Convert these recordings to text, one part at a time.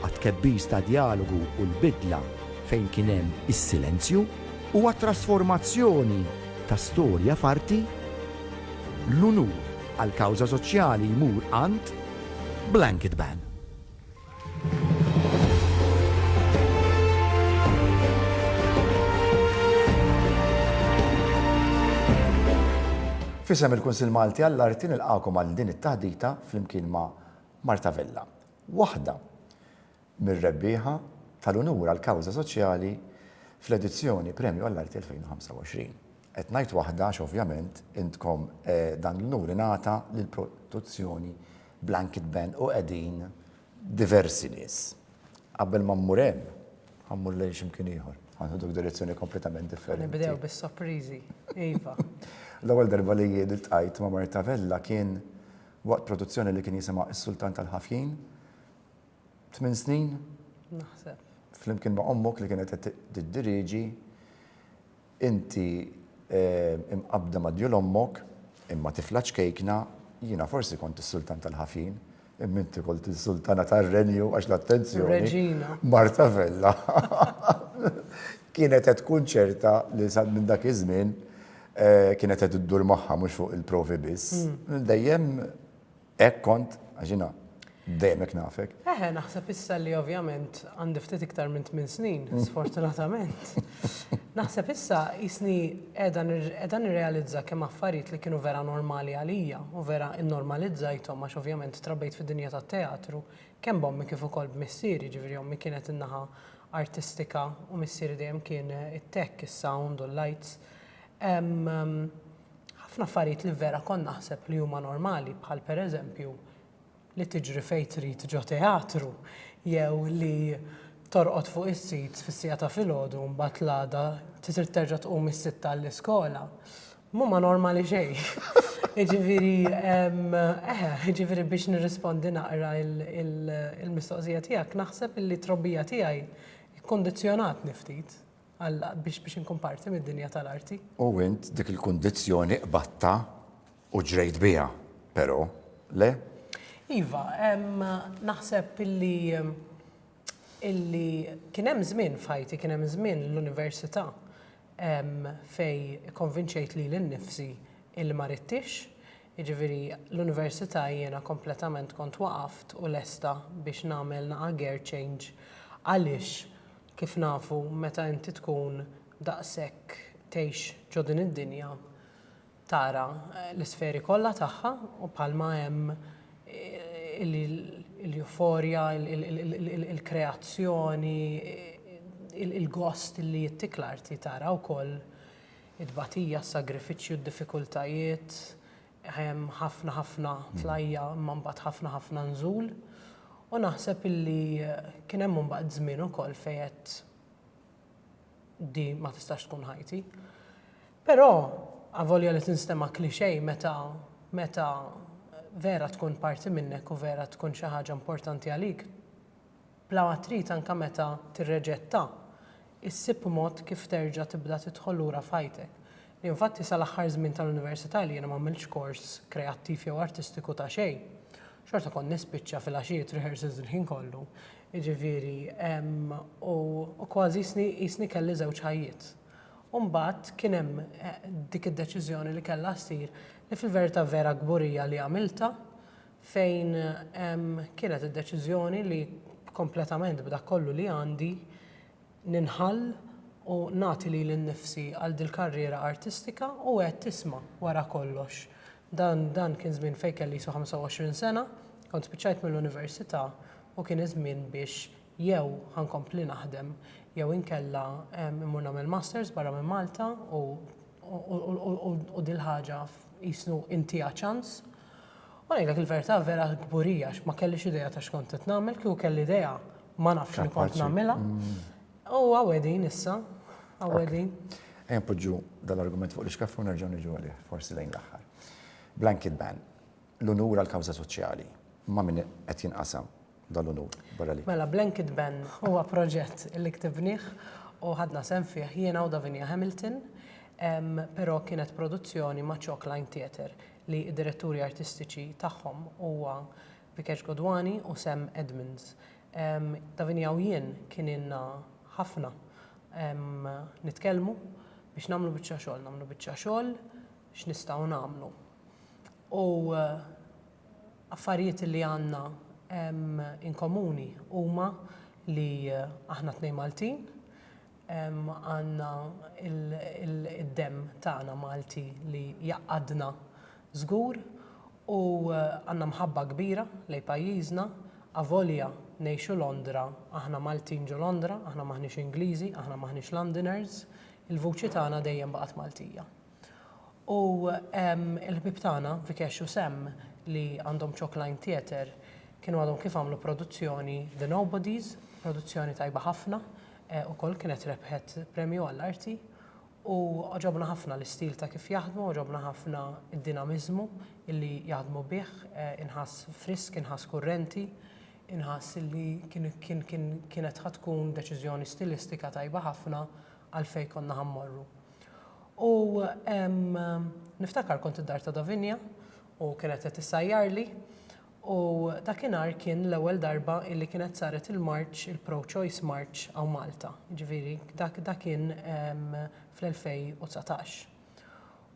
għat-tkebbis ta' djalogu u l-bidla fejn kien hemm is-silenzju, u għat-trasformazzjoni ta' storja f'arti, l-unur għall-kawża soċjali jmur għand Blanket Ban. F'isem il-Kunsill Malti għall-Arti nilqagħkom għal din it-taħdita flimkien ma' Marta Vella. waħda mir-rebbieħa tal-unur għall-kawża soċjali fl-edizzjoni Premju għall-Arti 2025. Qed ngħid waħda għax ovvjament intkom dan l-unur ingħata lil produzzjoni Blanket Band u qegħdin diversi nies. Qabel ma mmur hemm, ħa mmur lejn xi mkien ieħor. Ħa nieħduk direzzjoni kompletament differenti. Ħa nibdew bis-sopriżi, iva. L-ewwel darba li jien iltqajt ma' Marta Vella kien waqt produzzjoni li kien jisimha Is-Sultan tal-Ħafjin. Tmien snin. Naħseb. Flimkien ma' ommok li kienet qed tiddiriġi, inti imqabbda ma' djul ommok, imma tifla ċkejkna, jiena forsi kont is-Sultan tal-Ħafjin, imma inti kont is-Sultana tar-Renju għax l-attenzjoni. Reġina. Marta Vella kienet qed tkun ċerta li sa minn dak iż-żmien Kienet qed iddur moħħha mhux fuq il-provi biss. Dejjem hekk kont għax jiena dejjem hekk nafek. Eħe, naħseb issa li ovvjament għandi ftit iktar minn tmien snin, sfortunatament. Naħseb issa jisni qiegħda nirrealizza kemm affarijiet li kienu vera normali għalija u vera nnormalizzajthom għax ovvjament trabbejt fid-dinja tat-teatru kemm b'ommi kif ukoll b'missieri, jiġifieri ommi kienet in-naħa artistika u missieri dejjem kien it-tech, is-sound u l-lights. Hemm ħafna affarijiet li vera kont naħseb li huma normali bħal pereżempju li tiġri fejn trid ġo teatru jew li torqod fuq is-sit fis-siegħa ta' filgħodu mbagħad l-għada trid terġa' tqum is-sitta għall-iskola. M'huma normali xejn. Jiġifieri eħe, jiġifieri biex nirrispondi naqra il-mistoqsija tiegħek naħseb li t-trobbija tiegħi kkundizzjonatni ftit. Alla biex biex inkun parti mid-dinja tal-arti. U int dik il-kundizzjoni qbadtha u ġrejt biha, però, le? Iva, naħseb illi illi kien hemm żmien f'ħajti, kien hemm żmien l-università fejn ikkonvinċejt lili nnifsi illi ma ridtix, Jiġifieri l-Università jiena kompletament kont waqaft u lesta biex nagħmel naqa' gear change għaliex kif nafu meta inti tkun daqshekk tgħix ġo din id-dinja tara l-isferi kollha tagħha u bħalma hemm il-euphorja, il-kreazzjoni, il-gost li jittik l-arti tara wkoll it-tbatija, s-sagrifiċċju, d-diffikultajiet, hemm ħafna ħafna tlajja' imma mbagħad ħafna ħafna nżul. U naħseb illi kien hemm mbagħad żmien ukoll fejn għedt di ma tistax tkun ħajti. Però avolja li tinstema' cliché meta meta vera tkun parti minnek u vera tkun xi ħaġa importanti għalik, Bla ma trid anke meta tirreġetta, issib mod kif terġa' tibda tidħol lura f'ħajtek. Li infatti sal-aħħar żmien tal-università li jiena m'għamiltx kors kreattiv jew artistiku ta' xejn. Xorta kont nispiċċa filgħaxijiet rehearsals il-ħin kollu, jiġifieri u kważi qisni kelli żewġ ħajjiet. U mbagħad kien hemm dik id-deċiżjoni li kellha ssir li fil-verità vera kburija li għamiltha, fejn kienet id-deċiżjoni li kompletament b'dak kollu li għandi ninħall u nagħti lili nnifsi għal dil-karriera artistika u għedt isma' wara kollox dan dan kien żmien fejn kelli qisu 25 sena, kont spiċċajt mill-università u kien iż-żmien biex jew ħa nkompli naħdem jew inkella immur nagħmel masters barra minn Malta u u dil-ħaġa jisnu intiha ċans. U ngħidlek il-verità vera kburija għax ma kellix idea ta' x'kont qed nagħmel, kieku kelli idea ma nafx li kont nagħmilha. U għawedin issa, għawedin. Ejja npoġġu dal-argument fuq l-iskaffu nerġgħu niġu għalih forsi lejn l-aħħar. Blanket ban. l-unur għall-kawża soċjali. Ma' min qed jinqasam dan l-unur barra li. Mela, Blanket Ban huwa proġett li ktibnieh u ħadna sehem fih jiena u Davinia Hamilton, però kienet produzzjoni ma' Chalk Line Theatre li d-diretturi artistiċi tagħhom huwa Vikesh Godwani u Sam Edmonds. Davinia u jien kien ilna ħafna nitkellmu biex nagħmlu biċċa xogħol, nagħmlu biċċa xogħol x'nistgħu nagħmlu. u affarijiet li għandna inkomuni huma li aħna tnejn Maltin, għandna id-demm tagħna Malti li jgħaqqadna żgur u għandna mħabba kbira lejn pajjiżna avolja ngħixu Londra, aħna Maltin ġo Londra, aħna m'aħniex Ingliżi, aħna m'aħniex Londoners, il-vuċi tagħna dejjem baqgħet Maltija. U l-ħbieb tagħna, Vikesh u Sam, li għandhom Chalk Line Theatre, kienu għadhom kif għamlu produzzjoni The Nobodies, produzzjoni tajba ħafna, ukoll kienet rebħet premju għall-arti. U għoġobna ħafna l-istil ta' kif jaħdmu, għoġobna ħafna d-dinamiżmu li jaħdmu bih, inħass frisk, inħass kurrenti, inħass li kienet ħa tkun deċiżjoni stilistika tajba ħafna għal fejn konna ħa mmorru. U niftakar kont id-dar ta' Davinia u kienet qed issajjarli u dakinhar kien l-ewwel darba illi kienet saret il-marċ, il-pro-choice marċ hawn Malta. Jiġifieri dak dak kien fl-2019.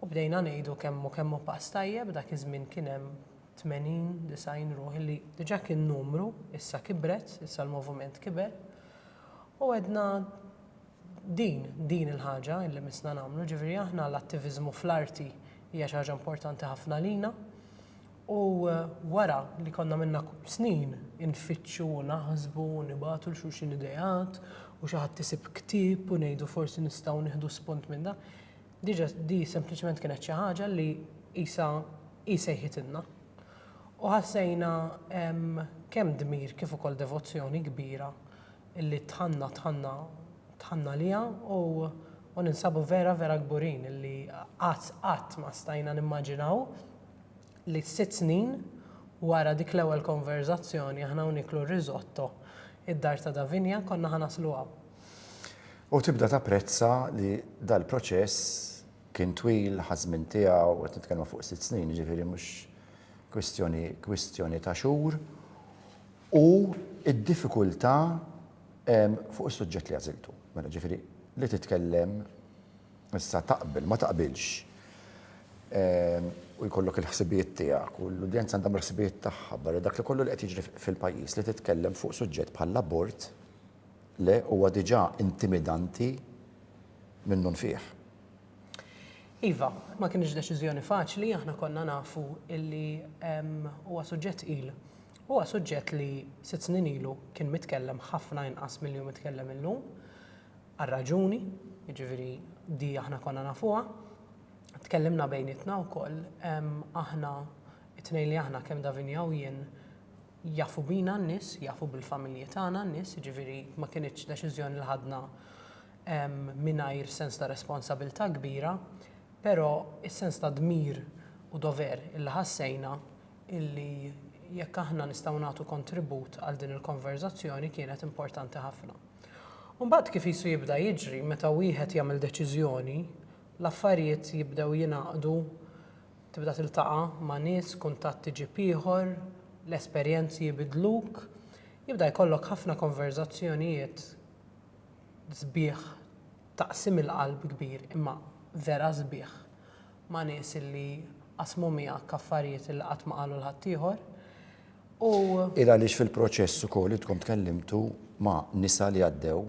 U bdejna ngħidu kemm hu kemm hu pass tajjeb, dak iż-żmien kien hemm tmenin, disgħin ruħ illi diġà kien numru, issa kibret, issa l-moviment kiber. U għedna, Din, din il-ħaġa li missna nagħmlu, ġifieri aħna l-attiviżmu fl-arti hija xi ħaġa importanti ħafna lina. U wara li konna minna snin infittxu u naħsbu u nibatu l xulxin ideat u xi ħadd isib ktieb u ngħidu forsi nistgħu nieħdu spunt minn dan, diġa di sempliċement kienet xi ħaġa li qisha hi sejħitilna. U ħassejna kemm dmir kif ukoll devozzjoni kbira illi tħanna tħanna tħanna liha u u ninsabu vera vera kburin illi qatt qatt ma stajna nimmaġinaw li sitt snin wara dik l-ewwel konverżazzjoni aħna u nieklu r-risotto id-dar ta' Davinia konna ħa naslu hawn. U tibda tapprezza li dal-proċess kien twil, ħa ż-żmien tiegħu, qed nitkellmu fuq sitt snin, jiġifieri mhux kwistjoni kwistjoni ta' xhur. u d-diffikultà fuq is-suġġett li għażiltu. Mela jiġifieri li titkellem issa taqbel, ma taqbilx u jkollok il-ħsibijiet tiegħek u l-udjenza għandha l-ħsibijiet tagħha barra dak li kollu li qed jiġri fil-pajjiż li titkellem fuq suġġett bħall-abort le huwa diġà intimidanti minnu nfih. Iva, ma kinitx deċiżjoni faċli, aħna konna nafu li huwa suġġett tqil Huwa suġġett li sitt snin ilu kien mitkellem ħafna inqas milli hu mitkellem illum, għal raġuni, jiġifieri di aħna konna nafuha. Tkellimna bejnietna wkoll, aħna t-tnejn li aħna kemm Davinia u jien jafu bina n-nies, jafu bil-familji tagħna n-nies, jiġifieri ma kinitx deċiżjoni li ħadna mingħajr sens ta' responsabilità kbira, però s-sens ta' dmir u dover illi ħassejna illi jekk aħna nistgħu nagħtu kontribut għal din il-konverżazzjoni kienet importanti ħafna. U mbagħad kif qisu jibda jiġri meta wieħed jagħmel deċiżjoni, l-affarijiet jibdew jingħaqdu, tibda tiltaqa' ma' nies, kuntatt iġib ieħor, l-esperjenzi jibidluk, jibda jkollok ħafna konverżazzjonijiet sbieħ ta' qsim il-qalb kbir imma vera sbieħ. ma' nies illi qasmu miegħek affarijiet illi qatt ma qalu 'l ħaddieħor, u. Hi għaliex fil-proċess ukoll intkom tkellimtu ma' nisa li għaddew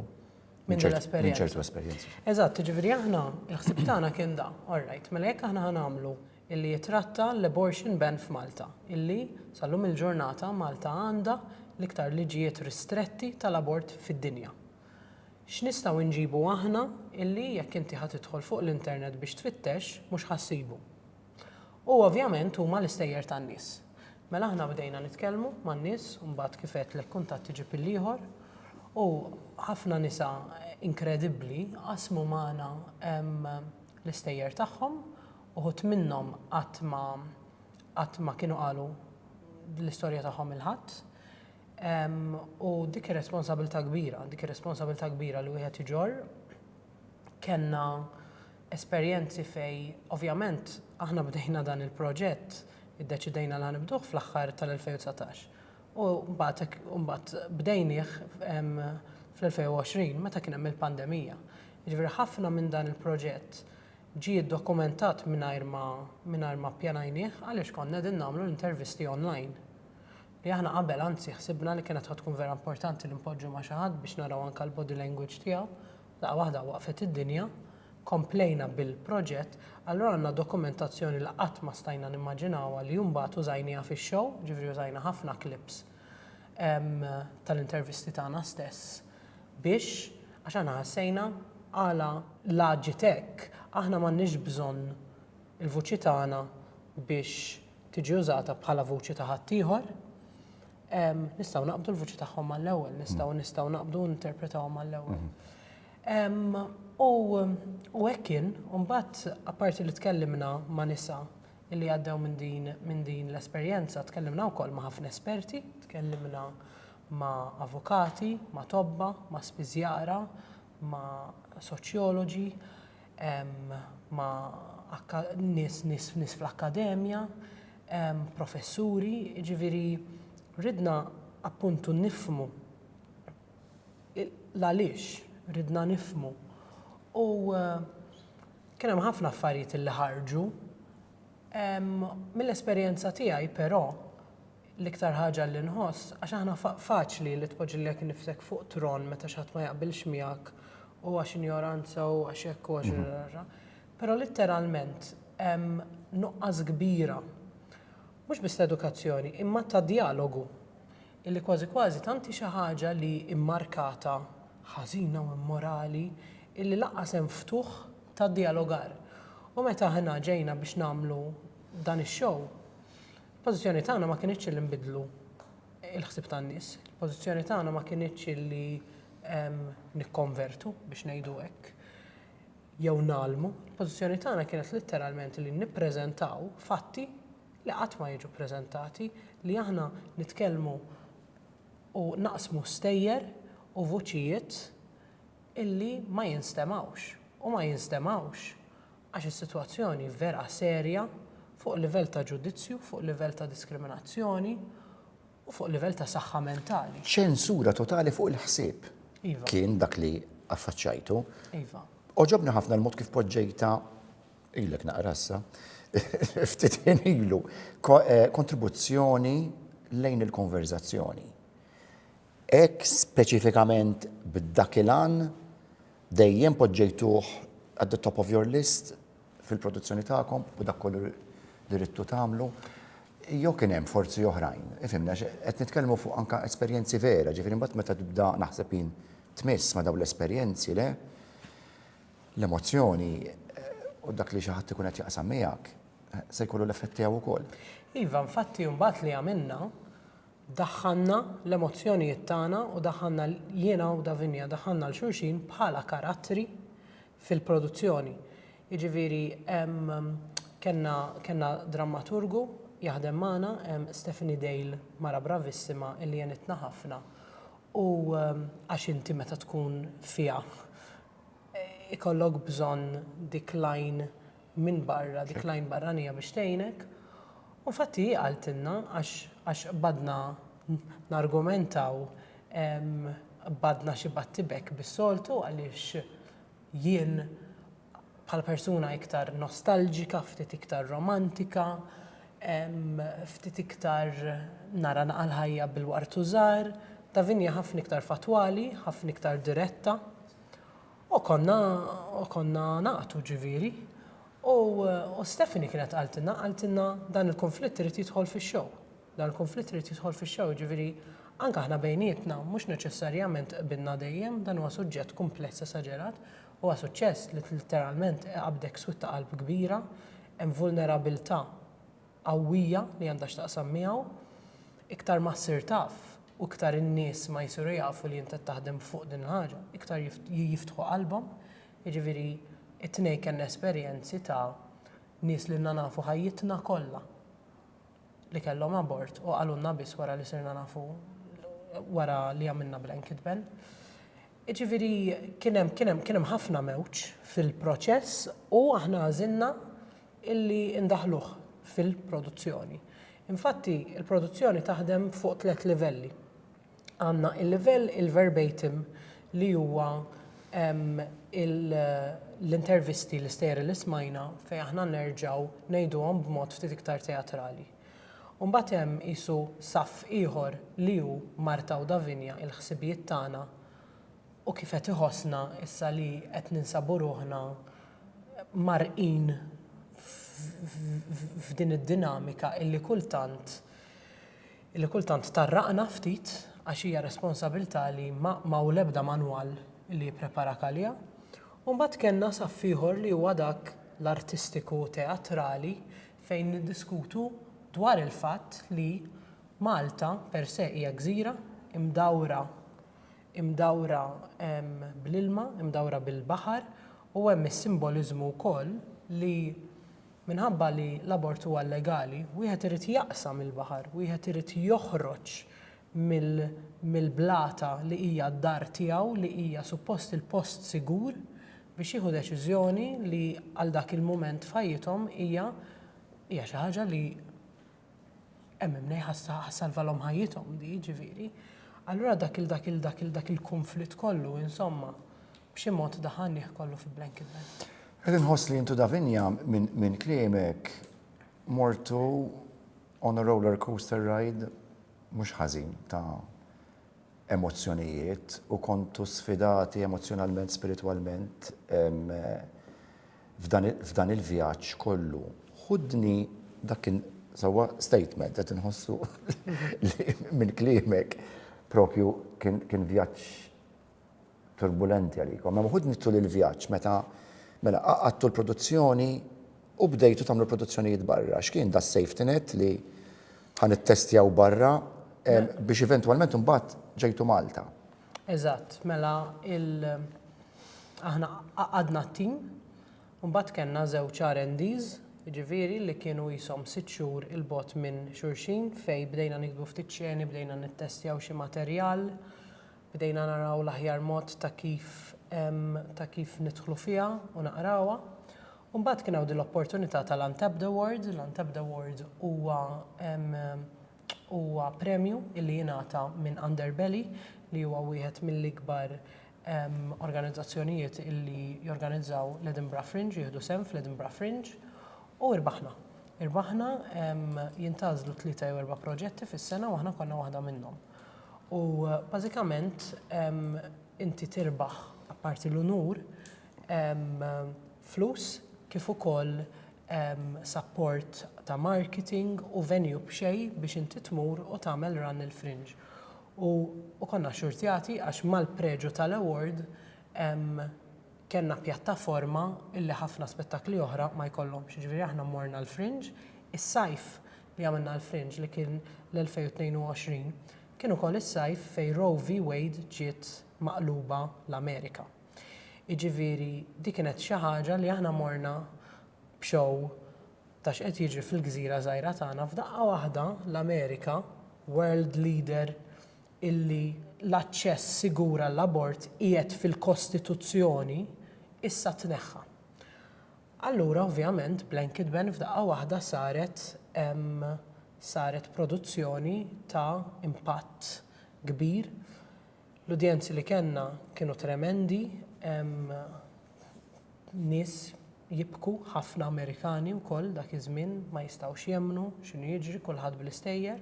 minn ċertu esperjenzi. Eżatt, jiġifieri aħna l-ħsieb tagħna kien dan, all right, mela jekk aħna ħa nagħmlu illi jitratta l-abortion ban f'Malta, illi sal-lum il-ġurnata Malta għandha l-iktar liġijiet ristretti tal-abort fid-dinja. X'nistgħu nġibu aħna illi jekk inti ħa tidħol fuq l-internet biex tfittex mhux ħa ssibu? U ovvjament huma l-istejjer tan-nies. Mela aħna bdejna nitkellmu man-nies u mbagħad kif għedtlek kuntatt iġib il-ieħor u ħafna nisa inkredibbli qasmu magħna l-istejjer tagħhom, uħud minnhom qatt ma qatt ma kienu qalu l-istorja tagħhom 'il ħadd. U dik ir-responsabilità kbira, dik ir-responsabilità kbira li wieħed iġorr, kellna esperjenzi fej, ovvjament, aħna bdejna dan il-proġett, iddeċidejna li ħanibduh fl-aħħar tal-2019. U mbagħad bdejnieh fl-2020 meta kien hemm il-pandemija. Jiġifieri ħafna minn dan il-proġett ġie ddokumentat mingħajr ma ppjanajnieh għaliex konna qegħdin nagħmlu l-intervisti online. li aħna qabel anzi ħsibna li kienet ħa tkun vera importanti li npoġġu ma' xi ħadd biex naraw anke l-body language tiegħu, daqqa waħda waqfet id-dinja, komplejna bil-proġett, allura għandna dokumentazzjoni li qatt ma stajna nimmaġinawha li mbagħad użajnieha fix-show, jiġifieri użajna ħafna clips tal-intervisti tagħna stess biex, għax aħna ħassejna għala l-aġit hekk, aħna m'għandniex bżonn il-vuċi tagħna biex tiġi użata bħala vuċi ta' ħaddieħor, nistgħu naqbdu l-vuċi tagħhom mal-ewwel, nistgħu nistgħu naqbdu ninterpretawhom mal-ewwel. U hekk kien, u mbagħad apparti li tkellimna ma' nisa li għaddew minn din minn din l-esperjenza, tkellimna wkoll ma' ħafna esperti, tkellimna ma' avukati, ma' tobba, ma' spiżjara, ma' soċjoloġi, ma' nies nies fl-akkademja, professuri, jiġifieri ridna appuntu nifhmu l-għaliex, ridna nifhmu. U kien hemm ħafna affarijiet li ħarġu. Mill-esperjenza tiegħi però, L-iktar ħaġa li nħoss, għax aħna faċli li tpoġġi lilek innifsek fuq tron meta xi ħadd ma jaqbilx miegħek u għax injoranza u għax hekk u għax rarara. Però litteralment hemm nuqqas kbira, mhux biss ta' edukazzjoni, imma ta' djalogu. Illi kważi kważi tant hi xi ħaġa li mmarkata ħażina u immorali illi lanqas hemm ftuħ ta' djalogar. U meta aħna ġejna biex nagħmlu dan ix-show, Il-pożizzjoni tagħna ma kinitx li nbiddlu l-ħsieb tan-nies, il-pożizzjoni tagħna ma kinitx li nikkonvertu biex ngħidu hekk jew ngħallmu, il-pożizzjoni tagħna kienet litteralment li nippreżentaw fatti li qatt ma jiġu ppreżentati, li aħna nitkellmu u naqsmu stejjer u vuċijiet illi ma jinstemgħux u ma jinstemgħux għax is-sitwazzjoni vera serja fuq livell ta' ġudizzju, fuq livell ta' diskriminazzjoni u fuq livell ta' saħħa mentali. Ċensura totali fuq il-ħsieb kien dak li affaċċajtu. Għoġobni ħafna l-mod kif poġġejtha ilek naqra issa, ftit ħin ilu, eh, kontribuzzjoni lejn il-konverżazzjoni. Hekk speċifikament b'dak il-għan dejjem poġġejtuh at the top of your list fil-produzzjoni tagħkom u dak kollu li ridtu tagħmlu? Jew kien hemm forzi oħrajn? Ifhimni għax qed nitkellmu fuq anke esperjenzi vera, ġifieri mbagħad meta tibda naħseb jien tmiss ma' dawn l-esperjenzi le, l-emozzjoni u dak li xi ħadd ikun qed jaqsam miegħek se jkollu l-effett tiegħu wkoll. Iva, infatti mbagħad li għamilna, Daħħalna l-emozzjonijiet tagħna u daħħalna jiena u Davinia daħħalna 'l xulxin bħala karattri fil-produzzjoni. Jiġifieri hemm kellna kellna drammaturgu jaħdem magħna, Stephanie Dale mara bravissima illi għenitna ħafna u għax inti meta tkun fiha ikollok bżonn dik l-għajn minn barra, dik l-għajn barranija biex tgħinek. U infatti hi qaltilna għax għax qbadna nargumentaw qbadna xi battibekk bis-soltu għaliex jien bħala persuna iktar nostalġika, ftit iktar romantika, ftit iktar nara naqa' l-ħajja bil-wartu żgħar, Davinia ħafna iktar fattwali, ħafna iktar diretta. U konna u konna nagħtu ġifieri. U u Stephanie kienet qaltilna qaltilna dan il-kunflitt irid jidħol fix-show. Dan il-kunflitt irid jidħol fix-show jiġifieri anke aħna bejnietna mhux neċessarjament qbilna dejjem dan huwa suġġett kumpless esaġerat. Huwa suċċess li litteralment iqabbdek switta qalb kbira, hemm vulnerabilità qawwija li għandha x'taqsam miegħu, iktar ma ssir taf u iktar in-nies ma jsiru jafu li int qed taħdem fuq din il-ħaġa, iktar jiftħu qalbhom. Jiġifieri t-tnejn kellna esperjenzi ta' nies li ilna nafu ħajjitna kollha li kellhom abort u qalulna biss wara li sirna nafu wara li għamilna blanket ban. Jiġifieri kien hemm kien hemm kien hemm ħafna mewġ fil-proċess u aħna għażilna illi ndaħħluh fil-produzzjoni. Infatti, il-produzzjoni taħdem fuq tliet livelli. Għandna il-livell il-verbatim li huwa l-intervisti, l-istejjer li smajna fejn aħna nerġgħu ngħiduhom b'mod ftit iktar teatrali. U mbagħad hemm qisu saff ieħor li hu Marta u Davinia, il-ħsibijiet tagħna, u kif qed iħossna issa li qed ninsabu ruħna mgħarrqin f'din id-dinamika illi kultant illi kultant tgħarraqna ftit għax hija responsabilità li ma hawn l-ebda manwal li jippreparak għaliha. U mbagħad kellna saff ieħor li huwa dak l-artistiku teatrali fejn niddiskutu dwar il-fatt li Malta per se hija gżira mdawra imdawra bl-ilma, imdawra bil-baħar u hemm is-simboliżmu wkoll li minħabba li l-abort huwa llegali, wieħed irid jaqsam il-baħar, wieħed irid joħroġ mill-blata li hija d-dar tiegħu, li hija suppost il-post sigur biex jieħu deċiżjoni li għal dak il-mument f'ħajjithom hija xi ħaġa li Hemm imnej ħassalvalhom ħajjithom di, ġifieri. Allura dak il dak il dak il dak il-kunflitt kollu, insomma, b'xi mod daħalnih kollu fi blanket bag. Qed inħoss li intu Davinia minn kliemek mortu on a roller coaster ride mhux ħażin ta' emozzjonijiet u kontu sfidati emozzjonalment, spiritwalment, f'dan il-vjaġġ kollu ħudni dak il- sewwa statement qed inħossu li minn kliemek propju kien vjaġġ turbulenti għalikom. Imma ħudni tul il-vjaġġ meta mela qagħadtu l-produzzjoni u bdejtu tagħmlu produzzjonijiet barra. X'kien da s-safety net li ħa nittestjaw barra biex eventwalment imbagħad ġejtu Malta? Eżatt, mela il aħna għaqqadna t-tim, u mbagħad kellna żewġ R&Ds, jiġifieri li kienu qishom sitt xhur 'il bogħod minn xulxin fejn bdejna niktbu ftit xeni, bdejna nittestjaw xi materjal, bdejna naraw l-aħjar mod ta' kif ta' kif nidħlu fiha u naqrawha. U mbagħad kien hawn din l-opportunità tal-Untapped Award, l-Untapped Award huwa Huwa premju li jingħata minn Underbelly li huwa wieħed mill-ikbar organizzazzjonijiet li jorganizzaw l-Edinburgh Fringe, jieħdu sehem fl-Edinburgh Fringe. U irbaħna. Irbaħna jintgħażlu tlieta jew erba' proġetti fis-sena u aħna konna waħda minnhom. U bażikament inti tirbaħ apparti l-unur flus kif ukoll sapport ta' marketing u venue b'xejn biex inti tmur u tagħmel run il-Fringe. U u konna xxurtjati għax mal-preġu tal-award kellna pjattaforma illi ħafna spettakli oħra ma jkollhomx. Jiġifieri aħna mmorna l-Fringe, is-sajf li għamilna l-Fringe li kien l-2022 kien ukoll is-sajf fejn Roe v. Wade ġiet maqluba l-Amerika. Jiġifieri di kienet xi ħaġa li aħna morna b'show ta' x'qed jiġri fil-gżira żgħira tagħna f'daqqa waħda l-Amerika, world leader illi l-aċċess sigur għall-abort qiegħed fil-kostituzzjoni, issa tneħħa. Allura ovvjament blanket ban f'daqqa waħda saret saret produzzjoni ta' impatt kbir. L-udjenzi li kellna kienu tremendi, nies jibku, ħafna Amerikani wkoll dak iż-żmien ma jistgħux jemmnu x'inhu jiġri, kulħadd bl-istejjer.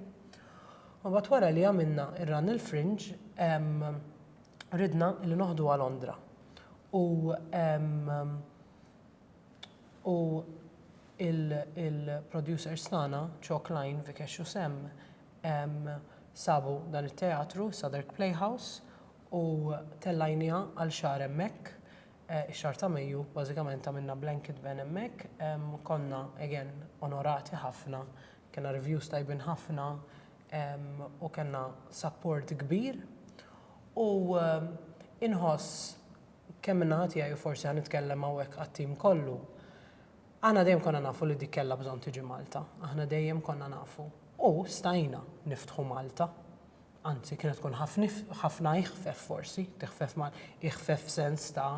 U mbagħad wara li għamilna r-Runnel Fringe ridna li noħduha Londra u u l-producers tagħna, Chalk Line, Vikesh u Sam, Sabu dan it-teatru, is-Southwark Playhouse, u tellajniha għal xahar hemmhekk. Ix-xahar ta' Mejju bażikament għamilna blanket ban hemmhekk. Konna, again, onorati ħafna, kellna reviews tajbin ħafna u kellna support kbir. U inħoss, kemm min-naħa tiegħi u forsi ħa nitkellem hawnhekk għat-tim kollu, Aħna dejjem konna nafu li dik kellha bżonn tiġi Malta. Aħna dejjem konna nafu. U stajna niftħu Malta. Anzi, kienet tkun ħafna iħfef forsi, tiħfef ma, iħfef f'sens ta'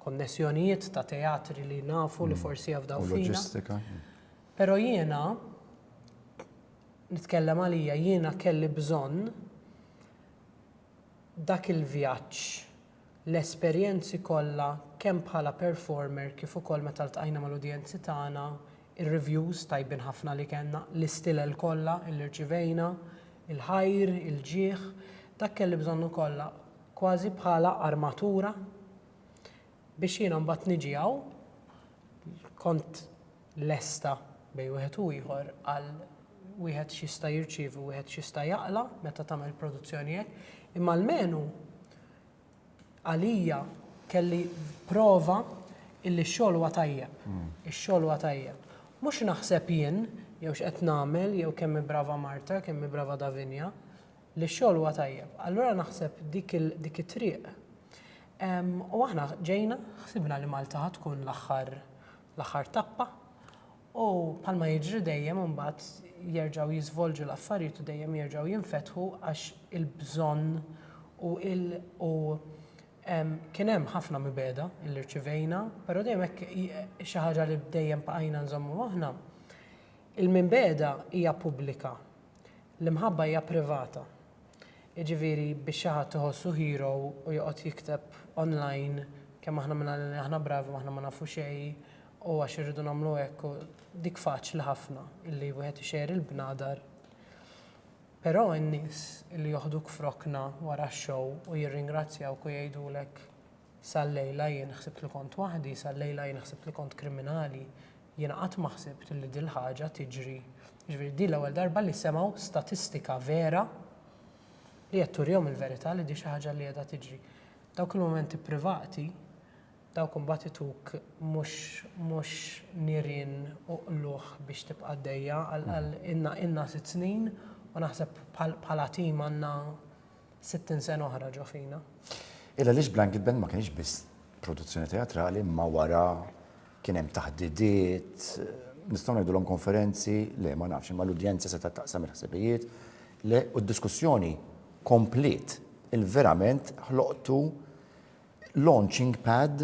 konnessjonijiet, ta' teatri li nafu li forsi jafdaw fina. U loġistika. Pero jiena, nitkellem għalija, jiena kelli bżonn dak il-vjaġġ, l-esperjenzi kollha kemm bħala performer kif ukoll meta ltqajna mal-udjenzi tagħna, ir-reviews tajbin ħafna li kellna, l-istilel kollha li rċivejna, il-ħajr, il-ġieħ, dak kelli bżonnu kollha kważi bħala armatura biex jiena mbagħad niġi hawn, kont lesta bejn wieħed u ieħor għal wieħed x'jista' jirċievi u wieħed x'jista' jaqla' meta tagħmel produzzjoni hekk. Imma almenu għalija kelli prova illi x-xogħol huwa tajjeb. Hmm. Ix-xogħol huwa tajjeb. Mhux naħseb jien jew x'qed nagħmel jew kemm brava Marta, kemm brava Davinja, li x-xogħol huwa tajjeb. Allura naħseb dik it-triq. U aħna ġejna, ħsibna li Malta tkun l-aħħar l-aħħar tappa u bħalma jiġri dejjem imbagħad jerġgħu jiżvolġu l-affarijiet u dejjem jerġgħu jinfetħu għax il-bżonn u il u kien hemm ħafna mibegħda li rċivejna, però dejjem hekk xi ħaġa li dejjem bqajna nżommu moħħna, il-mibegħda hija pubblika, l-imħabba hija privata. Jiġifieri biex xi ħadd iħossu hero u joqgħod jikteb online kemm aħna minn Għalina li aħna bravi u aħna ma nafu xejn u għax irridu nagħmlu hekk u dik faċli ħafna illi wieħed ixejjer il-bnadar. Però n-nies illi joħduk f'rokna wara x-show u jirringrazzjawk u jgħidulek sal-lejla jien ħsibt li kont waħdi, sal-lejla jien ħsibt li kont kriminali, Jiena qatt ma ħsibt li dil-ħaġa tiġri, jiġifieri din l-ewwel darba li semgħu statistika vera li qed turihom il-verità li di xi ħaġa li qiegħda tiġri. Dawk il-mumenti privati, dawk imbagħad ituk mhux mhux nirien u qlugħ biex tibqa' għaddejja għal għal ilna ilna sitt snin u naħseb bħal bħala tim għandna sittin sena oħra ġo fina. Illa għaliex Blanket Band ma kienx biss produzzjoni teatrali imma wara Kien hemm taħdidiet, nistgħu ngħidulhom konferenzi? Le, ma nafx, imma l-udjenza setgħet taqsam il-ħsibijiet, le, u d-diskussjoni kompliet. Il-verament ħloqtu launching pad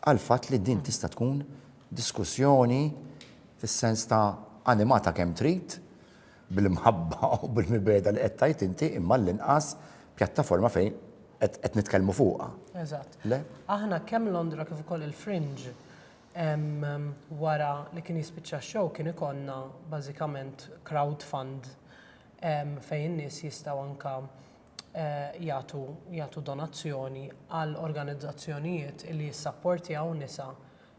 għall-fatt li din tista' tkun diskussjoni fis-sens ta' animata kemm trid, bil-mħabba u bil-mibegħda li qed tgħid inti, imma għall-inqas pjattaforma fejn qed qed nitkellmu fuqha. Eżatt. Le? Aħna kemm Londra kif ukoll il-Fringe em, wara li kien jispiċċa x-show kien ikollna bażikament crowd fund em, fejn in-nies jistgħu anka eh, jagħtu jagħtu donazzjoni għal organizzazzjonijiet li jissapportjaw nisa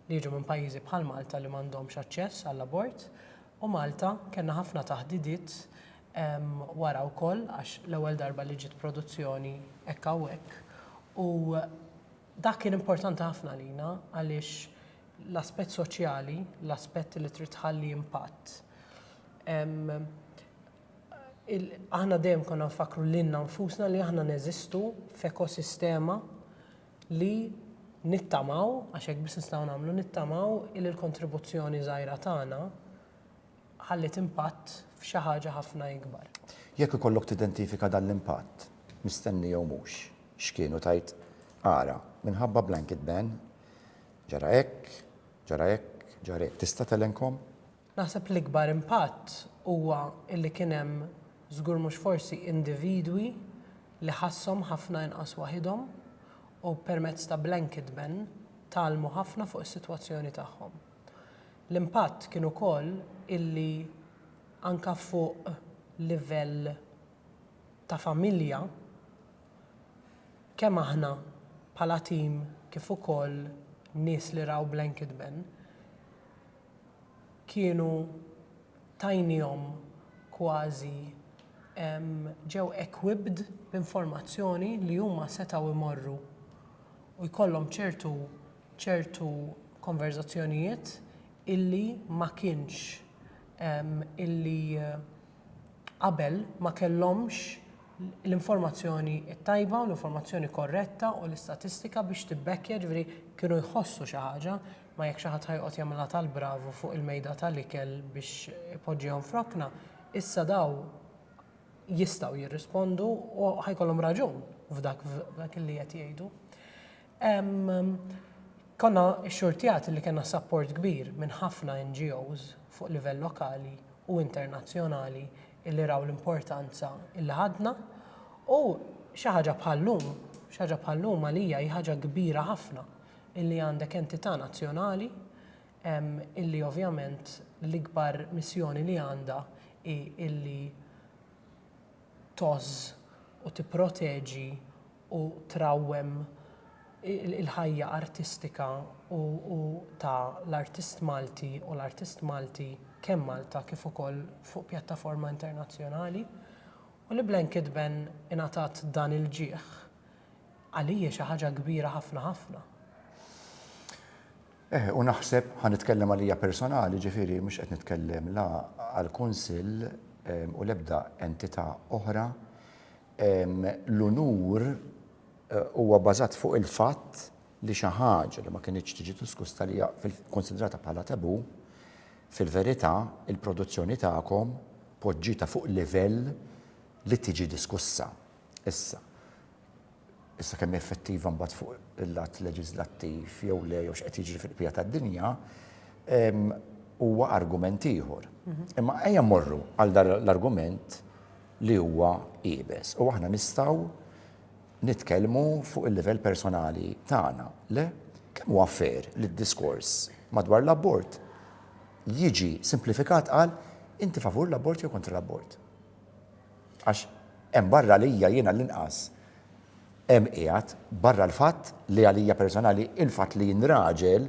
li jiġu minn pajjiżi bħal Malta li m'għandhomx aċċess għall-abort u Malta kellna ħafna taħdidiet wara wkoll għax l-ewwel darba li ġiet produzzjoni hekk hawnhekk u dak kien importanti ħafna għalina għaliex l-aspett soċjali, l-aspett li trid tħalli impatt aħna dejjem konna nfakkru lilna nfusna li aħna neżistu f'ekosistema li nittamaw, għax hekk biss nistgħu nagħmlu, nittamaw li l-kontribuzzjoni żgħira tagħna ħalliet impatt f'xi ħaġa ħafna ikbar. Jekk ikollok tidentifika dan l-impatt, mistenni jew mhux, x'kien u tgħid, Ara, minħabba blanket ban, ġara hekk, ġara hekk, ġara hekk, tista' telenkhom? Naħseb l-ikbar impatt huwa li kien hemm, żgur mhux forsi, individwi li ħasshom ħafna inqas waħidhom u permezz ta' blanket ban tgħallmu ħafna fuq is-sitwazzjoni tagħhom. L-impatt kien ukoll illi anke fuq livell ta' familja kemm aħna bħala tim kif ukoll nies li raw blanket ban kienu tajniehom kważi ġew equipped b'informazzjoni li huma setgħu jmorru u jkollhom ċertu ċertu konverżazzjonijiet illi ma kienx illi qabel ma kellhomx l-informazzjoni t-tajba u l-informazzjoni korretta u l-istatistika biex tibbekkja, jiġifieri kienu jħossu xi ħaġa. Ma jekk xi ħadd ħa joqgħod jagħmilha tal-bravu fuq il-mejda tal-ikel biex ipoġġihom f'rokna, issa dawn jistgħu jirrispondu u ħa jkollhom raġun f'dak f'dak li qed jgħidu. Konna xxurtjati li kellna sapport kbir minn ħafna NGOs fuq livell lokali u internazzjonali illi raw l-importanza illi ħadna u xi ħaġa bħal-lum, xi ħaġa bħal-lum għalija hi ħaġa kbira ħafna illi għandek entità nazzjonali illi ovvjament l-ikbar missjoni li għandha hi illi tgħożż u tipproteġi u trawwem il-ħajja artistika u u ta' l-artist Malti u l-artist Malti kemm Malta kif ukoll fuq pjattaforma internazzjonali u li Blanket Ben ingħatat dan il-ġieħ Għalija xi ħaġa kbira ħafna ħafna. Eħe, u naħseb, ħa nitkellem għalija personali, ġifieri mhux qed nitkellem la għall-Kunsill ehm, u l-ebda entità oħra, ehm, l-unur eh, huwa bażat fuq il-fatt li xi ħaġa li ma kinitx tiġi diskusta li konsidrata bħala tabu, fil-verità il-produzzjoni tagħkom poġġita fuq livell li tiġi diskussa. Issa, issa kemm hi effettiva mbagħad fuq il-lat leġiżlattiv jew le jew x'qed jiġri fil-qbija tad-dinja, huwa argument ieħor. Imma ejja mmorru għal dan l-argument li huwa iebes u aħna nistgħu nitkellmu fuq il-livell personali tagħna, le? Kemm huwa fair li d-diskors madwar l-abort jiġi simplifikat għal inti favur l-abort jew kontra l-abort? Għax hemm barra għalija jien għall-inqas hemm qiegħed, barra l-fatt li għalija personali il-fatt li jien raġel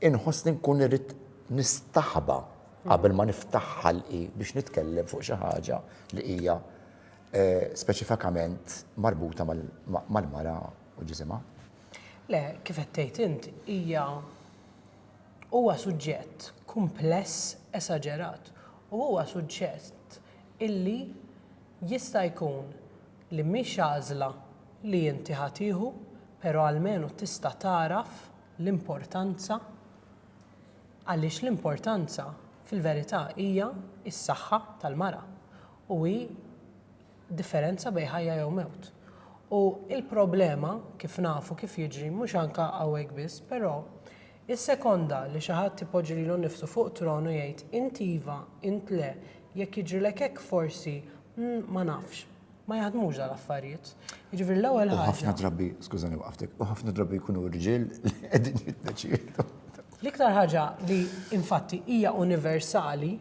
inħossni nkun irrid nistaħba qabel ma niftaħ ħalqi biex nitkellem fuq xi ħaġa li hija speċifikament marbuta mal-mara u ġisimha. Le, kif qed tgħid int, hija huwa suġġett kumpless esaġerat u huwa suġġett illi jista' jkun li mhix għażla li inti ħa tieħu pero almenu tista' tagħraf l-importanza għaliex l-importanza fil-verità hija s-saħħa tal-mara u hi differenza bejn ħajja jew mewt. U l-problema kif nafu kif jiġri mhux anke hawnhekk biss pero Issekonda li xi ħadd ipoġġi lilu nnifsu fuq tron u jgħid, Int iva, int le, jekk jiġrilek hekk forsi, mm, ma nafx. Ma jaħdmux dal-affarijiet. Jiġifieri l-ewwel ħaġa. U ħafna drabi, skużani waqaftek, u ħafna drabi jkunu rġiel li qegħdin jiddeċiedu. L-iktar ħaġa li infatti hija universali,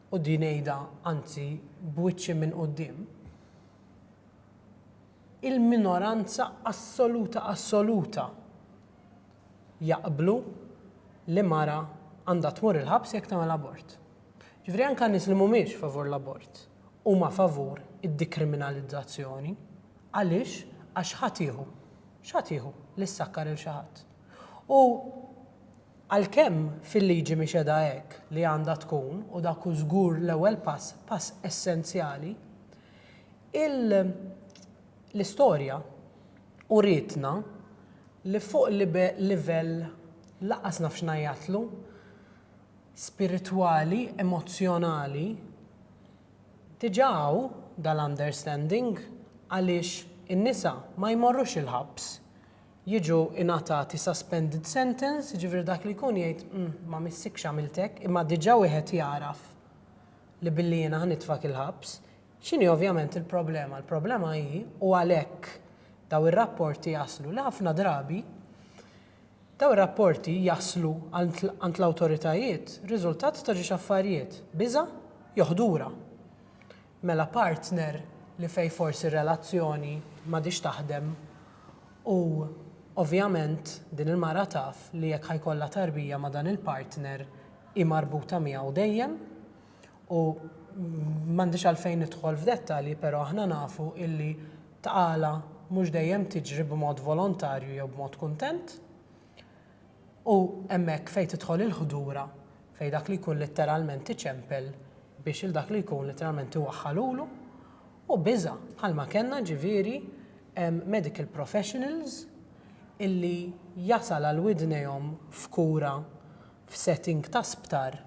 u din ngħidha anzi b'wiċċi minn quddiem, il-minoranza assoluta assoluta jaqblu li mara għandha tmur il-ħabs jekk tagħmel abort. Ġifieri anke nies li mhumiex favur l-abort huma favur id-dikriminalizzazzjoni. Għaliex? Għax x'ħadd jieħu? X'ħadd jieħu li ssakkar lil xi ħadd? U għalkemm fil-liġi mhix qiegħda hekk li għandha tkun u dak hu żgur l-ewwel pass, pass essenzjali, il- L-istorja urietna li fuq livell lanqas nafx ngħajjatlu, spiritwali, emozzjonali, diġà hawn dal-understanding għaliex in-nisa ma jmorrux il-ħabs, jiġu ingħatati suspended sentence, jiġifieri dak li jkun jgħid ma missikx għamilt hekk, imma diġà wieħed jagħraf li billi jiena ħa nitfgħek il-ħabs, X'inhi ovvjament il-problema? Il-problema hi, u għalhekk daw ir-rapporti jaslu, li ħafna drabi daw ir-rapporti jaslu għand l-awtoritajiet riżultat ta' ġiex affarijiet, biża' jew ħdura. Mela partner li fejn forsi r-relazzjoni m'għadhiex taħdem u ovvjament din il-mara taf li jekk ħa jkollha tarbija ma' dan il-partner hi marbuta miegħu dejjem, U m'għandix għalfejn nidħol f'dettalji però aħna nafu illi tqala mhux dejjem tiġri b'mod volontarju jew b'mod kuntent. U hemmhekk fejn tidħol il-ħdura fejn dak li jkun litteralment iċempel biex il dak li jkun litteralment iwaħħal ulu u biża' bħalma kellna ġifieri medical professionals illi jasal għal widnejhom f'kura f'setting ta' sptar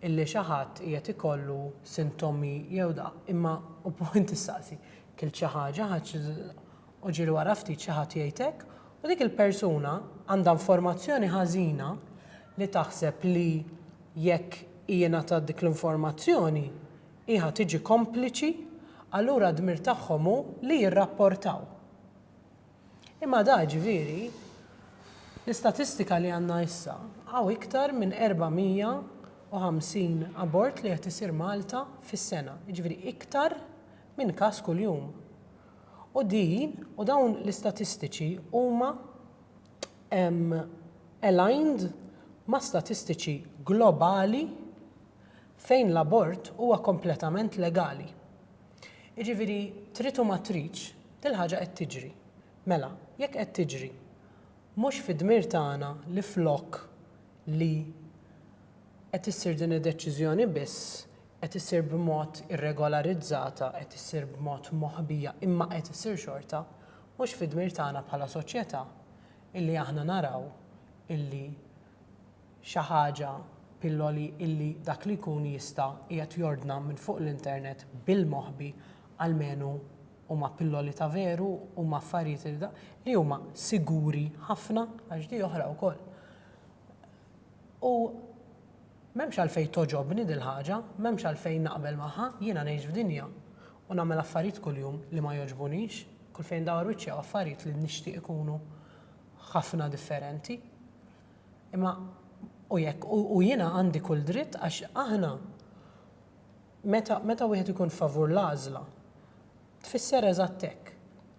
illi xi ħadd qiegħed ikollu sintomi jew da, imma u punt issaqsi, kilt xi ħaġa, ħadt u ġieli wara ftit xi ħadd jgħid hekk u dik il-persuna għandha informazzjoni ħażina li taħseb li jekk hi ingħatat dik l-informazzjoni hi ħa tiġi kompliċi allura d-dmir tagħhom hu li jirrapportaw. Imma da, jiġifieri, l-istatistika li għandna issa, hawn iktar minn 450 abort li qed isir Malta fis-sena, jiġifieri iktar minn każ kuljum. U din, u dawn l-istatistiċi huma aligned ma' statistiċi globali fejn l-abort huwa kompletament legali. Jiġifieri trid u ma tridx, il-ħaġa qed tiġri. Mela, jekk qed tiġri, mhux fid-dmir tagħna li flok li qed issir din id-deċiżjoni biss, qed issir b'mod irregolarizzata, qed issir b'mod moħbija imma qed issir xorta, mhux fid-dmir tagħna bħala soċjetà illi aħna naraw illi xi ħaġa, pilloli, illi dak li jkun jista' qiegħed jordna minn fuq l-internet bil-moħbi, almenu huma pilloli ta' veru, huma affarijiet li da, li huma siguri ħafna, għax di oħra wkoll. U m'hemmx għalfejn togħġobni dil-ħaġa, m'hemmx għalfejn naqbel magħha, jiena ngħix f'dinja u nagħmel affarijiet kuljum li ma jogħġbunix, kull fejn ndawwar wiċċi hawn affarijiet li nixtieq ikunu ħafna differenti. Imma u jekk u jiena għandi kull dritt għax aħna meta meta wieħed ikun favur l-għażla tfisser eżatt hekk,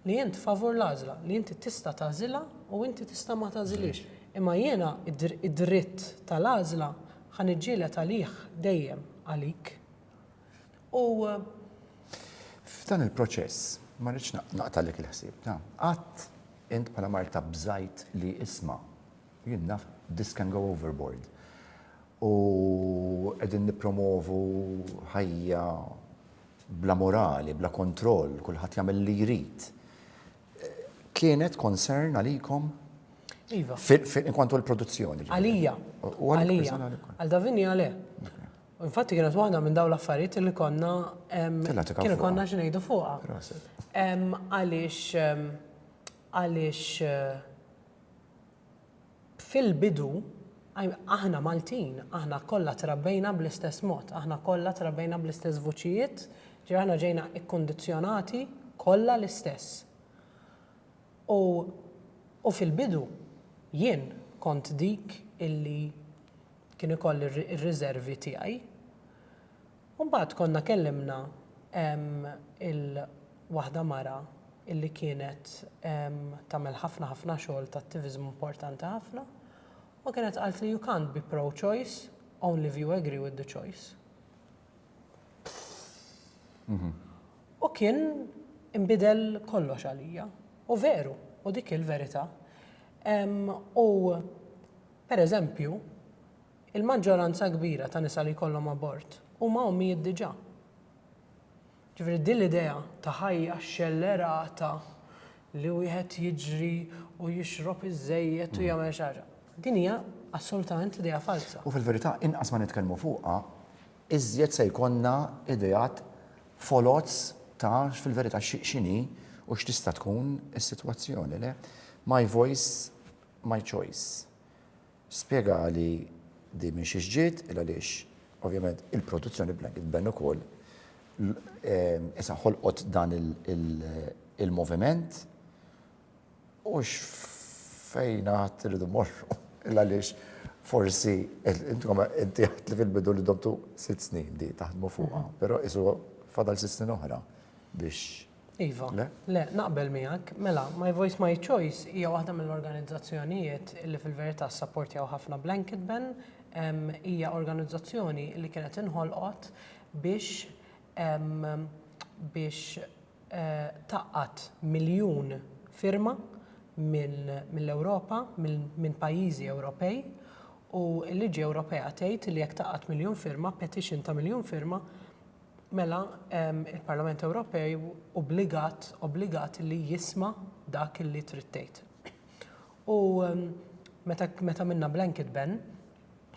li int favur l-għażla, li inti tista' tagħżilha u inti tista' ma tagħżilhiex. Imma jiena d-dritt tal-għażla ħa niġġieled għalih dejjem għalik. u. F'dan il-proċess, ma rridx naqtagħlek il-ħsieb, ta, qatt int bħala marta bżajt li isma', jien naf this can go overboard u qegħdin nippromovu ħajja bla morali, bla kontroll, kulħadd jagħmel li jrid. Kienet concern għalikom? Iva. Inkwantu l-produzzjoni. Għalija. Għalija. Għal Davinja le. U infatti kienet waħda minn dawn l-affarijiet li konna kien konna xi ngħidu fuqha. Għaliex għaliex eh, fil-bidu aħna Maltin, aħna kollha trabbejna bl-istess mod, aħna kollha trabbejna bl-istess vuċijiet, ġir aħna ġejna ikkondizzjonati kollha l-istess. U, u fil-bidu jien kont dik illi kien ikoll ir-riservi tiegħi. U mbagħad konna kellimna il-waħda mara illi kienet tagħmel ħafna ħafna xogħol ta' attiviżmu importanti ħafna u kienet qaltli you can't be pro choice only if you agree with the choice. U kien inbidel kollox għalija. U veru, u dik hi l-verità. U Per eżempju, il-maġġoranza kbira ta' nisa li jkollhom abort huma ommijiet diġà. Ġifieri din l-idea ta' ħajja xxellerata li wieħed jiġri u jixrob iż-żejjed u jagħmel xi ħaġa, din hija assolutament idea falza. U fil-verità inqas ma nitkellmu fuqha, iżjed se jkollna ideat foloz ta' fil-verità x'inhi u x'tista' tkun is-sitwazzjoni, le? My voice my choice. Spjegali din minn xiex ġiet, il-għaliex ovvjament il-produzzjoni b'Blanket Ban ukoll issa ħolqot dan il-moviment u x'fejn għad irridu mmorru. Il-għaliex forsi intkom inti għedt li fil-bidu li domtu sitt snin di taħdmu fuqha, però qisu fadal sitt snin oħra biex Iva, le, naqbel miegħek, mela, My Voice My Choice hija waħda mill-organizzazzjonijiet li fil-verità sapportjaw ħafna Blanket Ban, hija organizzazzjoni li kienet inħolqot biex biex eh, taqqat miljun firma mill-Ewropa, minn pajjiżi Ewropej, u l-liġi Ewropea tgħid li jekk taqqat miljun firma, petition ta' miljun firma, mela il-Parlament Ewropej obbligat, obbligat li jisma' dak li trid tgħid. U meta, meta minna blanket ban,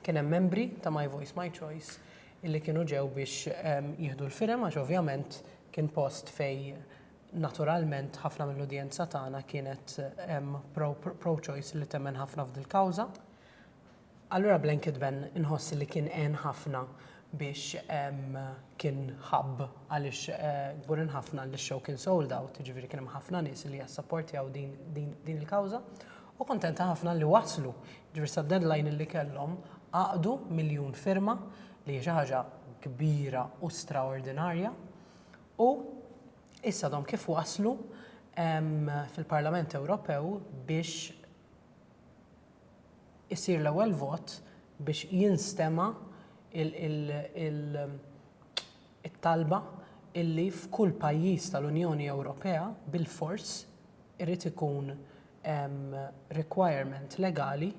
kien hemm membri ta' My Voice My Choice illi kienu ġew biex jieħdu l-firem għax ovvjament kien post fej naturalment ħafna mill-udjenza tagħna kienet pro-choice li temmen ħafna f'dil-kawża. Allura Blanket Ben inħoss li kien għen ħafna biex kien hub għaliex kburin ħafna li x-show kien sold out, jiġifieri kien hemm ħafna nies li jassapportjaw din il-kawża u kuntenta ħafna li waslu. Jiġifieri sad-deadline li kellhom għaqdu miljun firma li hija xi ħaġa kbira u straordinarja u issa għadhom kif waslu fil-Parlament Ewropew biex isir l-ewwel vot biex jinstema' it-talba illi f'kull pajjiż tal-Unjoni Ewropea bilfors irid ikun hemm requirement legali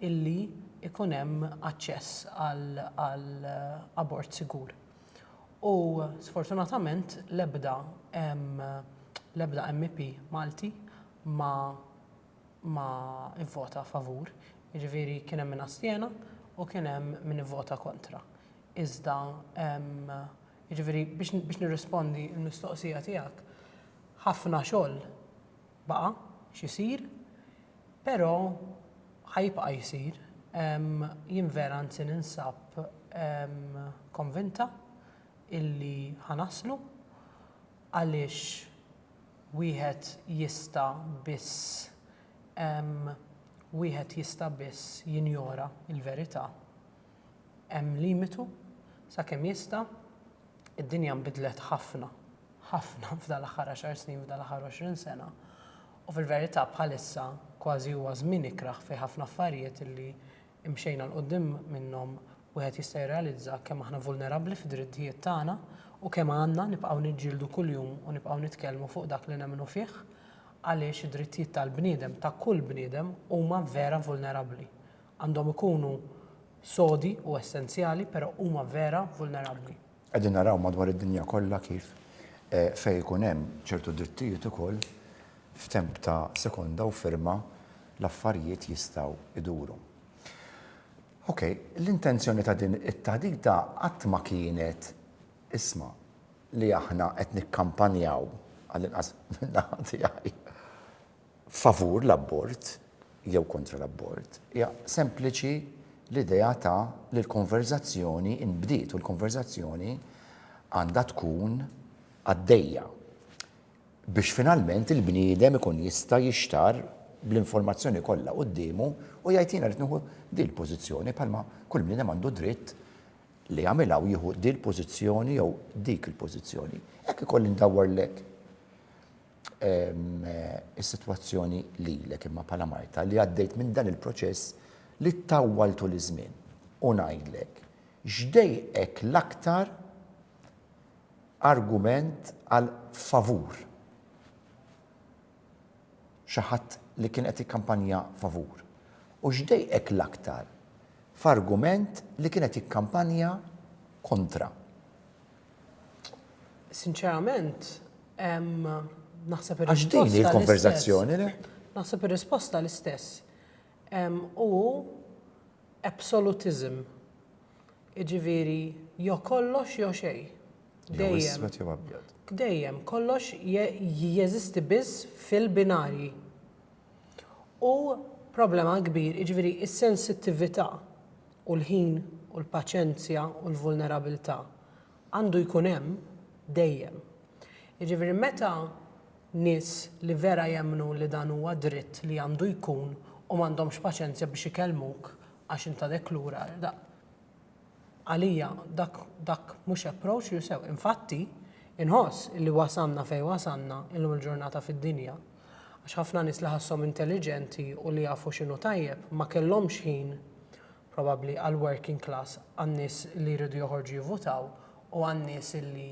illi jkun hemm aċċess għal abort sigur. U sfortunatament l-ebda l-ebda MEP Malti ma ma vvota favur, jiġifieri kien hemm min astjena u kien hemm min ivvota kontra. Iżda jiġifieri biex nirrispondi l-mistoqsija tiegħek, ħafna xogħol baqa' x'isir, però ħa jibqa' jsir. Jien vera anzi ninsab konvinta illi ħa naslu għaliex, wieħed jista' biss hemm wieħed jista' biss jinjora l-verità. Hemm limitu sakemm jista' id-dinja nbidlet ħafna, ħafna f'dan l-aħħar għaxar snin, f'dan l-aħħar għoxrin sena u fil-verità bħalissa kważi huwa żmien ikrah fi ħafna affarijiet li imxejna 'l quddiem minnhom wieħed jista' jirrealizza kemm aħna vulnerabbli fid-drittijiet tagħna u kemm għandna nibqgħu niġġieldu kuljum u nibqgħu nitkellmu fuq dak li nemmnu fih għaliex id-drittijiet tal-bniedem, ta' kull bniedem, huma vera vulnerabbli. Għandhom ikunu sodi u essenzjali però huma vera vulnerabbli. Qegħdin naraw madwar id-dinja kollha kif fejn ikun hemm ċertu drittijiet ukoll, f'temp ta' sekonda u firma l-affarijiet jistgħu jduru. Ok, l-intenzjoni ta' din it-taħdita qatt ma kienet, isma', li aħna qed nikkampanjaw, għallinqas min-naħa tiegħi, favur l-abort jew kontra l-abort, hija sempliċi l-idea ta' li l-konverżazzjoni nbdiet u l-konverżazzjoni għandha tkun għaddejja biex finalment il-bniedem ikun jista' jixtarr bl-informazzjoni kollha quddiemu u jgħid jiena rrid nieħu din il-pożizzjoni bħalma kull bniedem għandu dritt li jagħmilha u jieħu din il-pożizzjoni jew dik il-pożizzjoni. Hekk ikolli ndawwarlek is-sitwazzjoni lilek imma bħala marta li għaddejt minn dan il-proċess li ttawwal tul iż-żmien u ngħidlek x'dejqek l-aktar argument għal favur xi ħadd li kien qed jikkampanja favur u x'dejqek l-aktar f'argument li kien qed jikkampanja kontra. Sinċerament, naħseb ir-risposta. Għax din hi l-konverżazzjoni, le? Naħseb ir-risposta l-istess. U absolutism. Iġifieri, jew kollox jew xejn. Jew iswed jew abjad. Dejjem, kollox jeżisti biss fil-binarji. u problema kbir, jiġifieri s-sensittività u l-ħin u l-paċenzja u l-vulnerabilità għandu jkun hemm dejjem. Jiġifieri meta nies li vera jemmnu li dan huwa dritt li għandu jkun u m'għandhomx paċenzja biex ikellmuk għax int għadek lura, Għalija dak dak mhux approach li sew. Infatti, inħoss illi wasalna fejn wasalna illum il-ġurnata fid-dinja għax ħafna nies li ħasshom intelliġenti u li jafu x'inhu tajjeb ma kellhomx ħin probabbli għall-working class, għan-nies li jridu joħorġu jivvutaw u għan-nies illi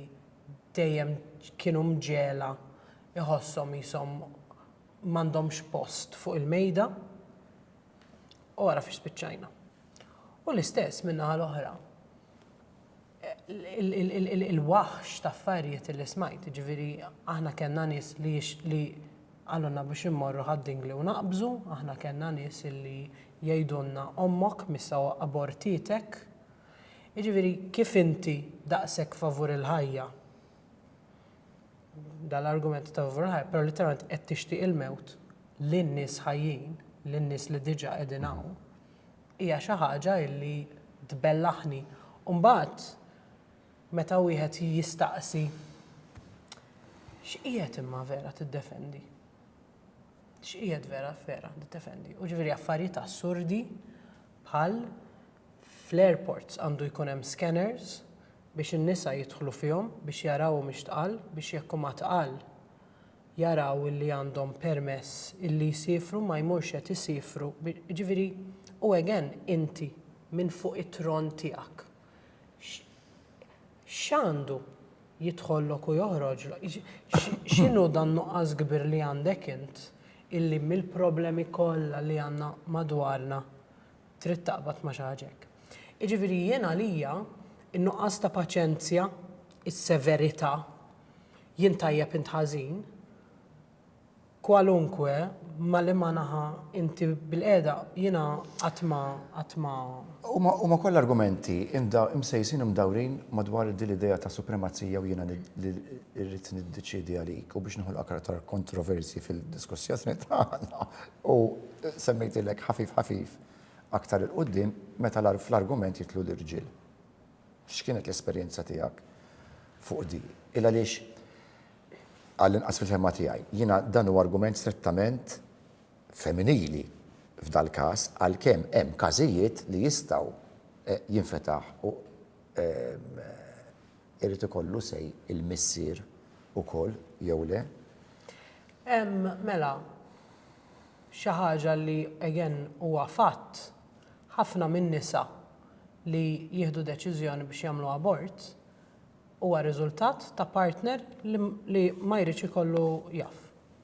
dejjem kienu mġegħla jħosshom qishom m'għandhomx post fuq il-mejda. U ara fiex spiċċajna. U l-istess minna għal oħra il-waħx ta' affarijiet li smajt, ġviri aħna kena nis li li għallunna biex immorru ħadding li unaqbżu, aħna kena nis li jajdunna ommok missa abortitek. Ġviri kif inti daqsek favur il-ħajja? Dan l-argument ta' Von Hayek, però litteralment qed tixtieq il-mewt lin-nies ħajjin, lin-nies li diġà qegħdin hawn, hija xi ħaġa illi tbellaħni. U mbagħad meta wieħed jistaqsi x'qiegħed imma vera tiddefendi? X'qiegħed vera vera tiddefendi? U ġifieri affarijiet assurdi bħal Fl-airports għandu jkun hemm scanners biex in-nisa jidħlu fihom biex jaraw humiex tqal biex jekk huma tqal jaraw illi għandhom permess illi jsiefru ma jmurx qed isiefru jiġifieri u again inti minn fuq it-tron tiegħek x'għandu jidħollok u joħroġlok x'inhu dan-nuqqas kbir li għandek int illi mill-problemi kollha li għandna madwarna trid taqbad ma' xi ħaġa hekk. Jiġifieri jien għalija n-nuqqas ta' paċenzja, is-severità, jien tajjeb int ħażin, kwalunkwe ma' liema naħa inti bilqiegħda, jiena qatt ma qatt ma. Huma kollha argumenti msejsin u mdawrin madwar din l-idea ta' supremazija u jiena rrid niddeċiedi għalik u biex noħolqok aktar kontroversji fil-diskussjoni tagħna. U semmejtilek ħafif ħafif aktar 'il quddiem meta fl-argument jidħlu l-irġiel. X'kienet l-esperjenza tiegħek fuq din? Il-għaliex għall-inqas fil-fehma tiegħi, jiena dan huwa argument strettament femminili f'dal-każ għalkemm hemm każijiet li jistgħu jinfetaħ u Irid ikollu say il-missier ukoll jew le? Hemm, mela, xi ħaġa li, again, huwa fatt, ħafna min-nisa li jieħdu deċiżjoni biex jagħmlu abort huwa riżultat ta' partner li ma jridx ikollu jaf.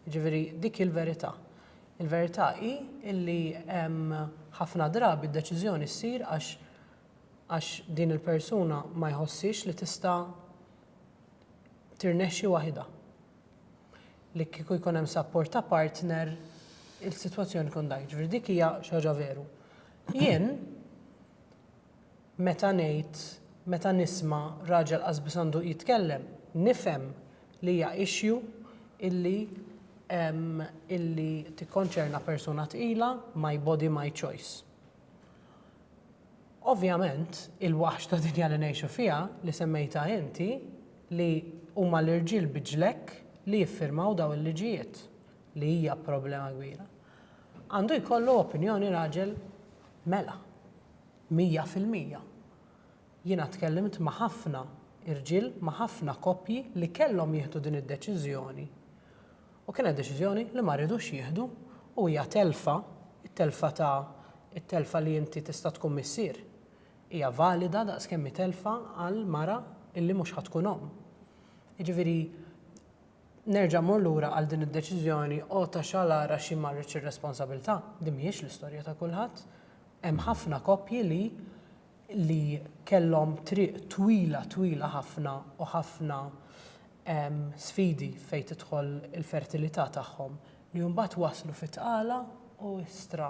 Jiġifieri dik hi l-verità. Il-verità hi li ħafna drabi d-deċiżjoni ssir għax għax din il-persuna ma jħossiex li tista' tirnexxi waħidha. Li kieku jkun hemm sapport ta' partner il-sitwazzjoni tkun dgħajf. Ġifieri dik hija xi ħaġa veru. Jien meta ngħid meta nisma' raġel qasbis għandu jitkellem, nifhem li hija issue illi illi tikkonċerna persuna tqila, my body, my choice. Ovvjament, il-waħx ta' dinja li ngħixu fiha, li semmejtha inti, li huma l-irġiel bi ġlekk li jiffirmaw dawn il-liġijiet, li hija problema kbira, għandu jkollu opinjoni raġel mela, mija fil-mija. Jiena tkellimt ma' ħafna irġiel, ma' ħafna koppji li kellhom jieħdu din id-deċiżjoni U kienet deċiżjoni li ma ridux jieħdu u hija telfa, it-telfa ta' it-telfa li inti tista' tkun missier hija valida daqskemm hi telfa għal mara illi mhux ħa tkun omm. Jiġifieri nerġa' mmur lura għal din id-deċiżjoni o ta' xalar għax jien ma rridx ir-responsabilità, din mhijiex l-istorja ta' kulħadd. Hemm ħafna koppji li li kellhom triq twila twila ħafna u ħafna sfidi fejn tidħol il-fertilità tagħhom li mbagħad waslu fi tqala u istra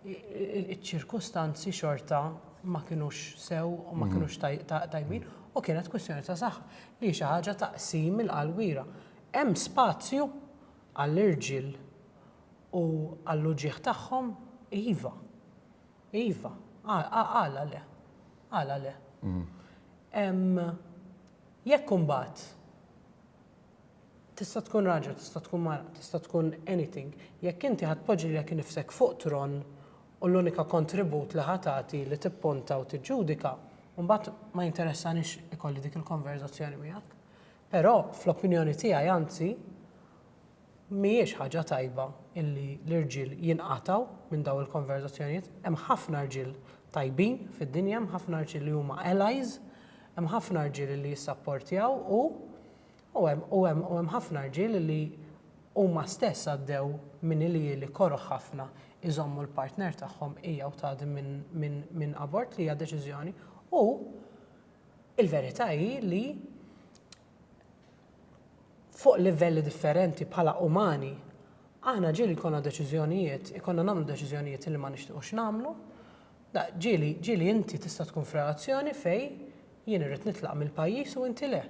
ċ-ċirkustanzi xorta ma kinux sew u ma kinux tajbin u kienet kwistjoni ta' saħħa li hi xi ħaġa ta' qsim il-qalbiera. Hemm spazju għall-irġiel u għall-uġigħ tagħhom? Iva. Iva, għala le? Għala le? Jekk imbagħad tista' tkun raġel, tista' tkun mara, tista' tkun anything, jekk inti ħa tpoġġi lilek innifsek fuq tron u l-unika kontribut li ħa tagħti li tippunta u tiġġudika, imbagħad ma jinteressanix ikolli dik il-konverżazzjoni miegħek. Però, fl-opinjoni tiegħi anzi, Mhijiex ħaġa tajba illi l-irġiel jinqatgħu minn dawn il-konverżazzjonijiet. Hemm ħafna rġiel tajbin fid-dinja, hemm ħafna rġiel li huma allies, hemm ħafna rġiel illi jissapportjaw u u hemm u hemm u hemm ħafna rġiel illi huma stess għaddew minn ilieli koroh ħafna iżommu l-partner tagħhom hija u tgħaddi minn minn minn abort li hija deċiżjoni u l-verità hi li fuq livelli differenti bħala umani, aħna ġieli jkollna deċiżjonijiet, ikollna nagħmlu deċiżjonijiet li ma nixtiequx nagħmlu. Ġieli, ġieli inti tista' tkun f'relazzjoni fejn jien irrid nitlaq mill-pajjiż u inti le.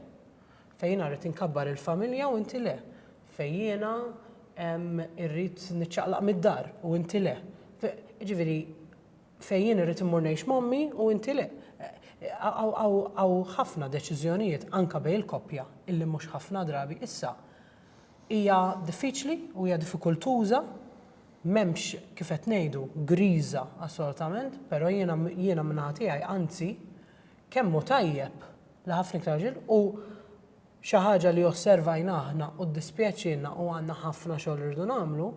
Fejn jiena rrid inkabbar il-familja u inti le. Fejn jiena irrid niċċaqlaq mid-dar u inti le. Jiġifieri, fejn jien irrid immur ngħix m'ommi u inti le. Hawn ħafna deċiżjonijiet anke bejn il-koppja illi mhux ħafna drabi issa hija diffiċli u hija diffikultuża, m'hemmx kif qed ngħidu griża assolutament, però jiena jiena min-naħa tiegħi anzi kemm hu tajjeb li ħafna iktar irġiel u xi ħaġa li osservajna aħna u ddispjaċielna u għandna ħafna xogħol irridu nagħmlu,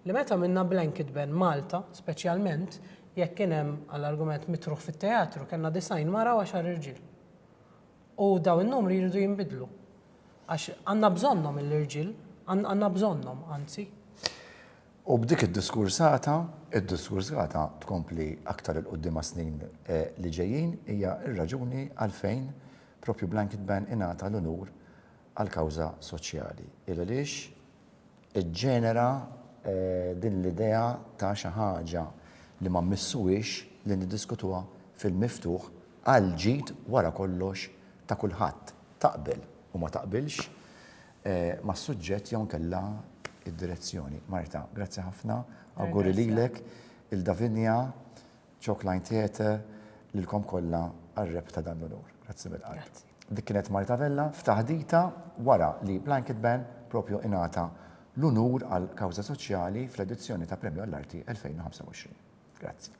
Li meta għamilna Blanket Ban Malta, speċjalment jekk kien hemm għall-argument mitruħ fit-teatru, kellna 90 mara u għaxar irġiel. U dawn in-numri jridu jinbidlu. Għax għandna bżonnhom il-irġiel, għandna bżonnhom, anzi. U b'dik id-diskursata, id-diskursata tkompli aktar 'il quddiem għas-snin li ġejjin, hija r-raġuni għalfejn proprju Blanket Ban ingħata l-unur għall-kawża soċjali. Il għaliex iġġenera din l-idea ta' xi ħaġa li ma mmissuhiex li niddiskutuha fil-miftuħ għall-ġid wara kollox ta' kulħadd, taqbel u ma taqbilx mas-suġġett jew inkella d-direzzjoni. Marta, grazzi ħafna, awguri lilek, lil Davinia, Chalkline Theatre, lilkom kollha għar-rebħ ta' dan l-unur. Grazzi mill-qalb. Dik kienet Marta Vella f'taħdita wara li Blanket Ban propju ingħata l-unur għal kawża soċjali fl-edizzjoni ta' Premju għall-Arti 2025. Grazzi.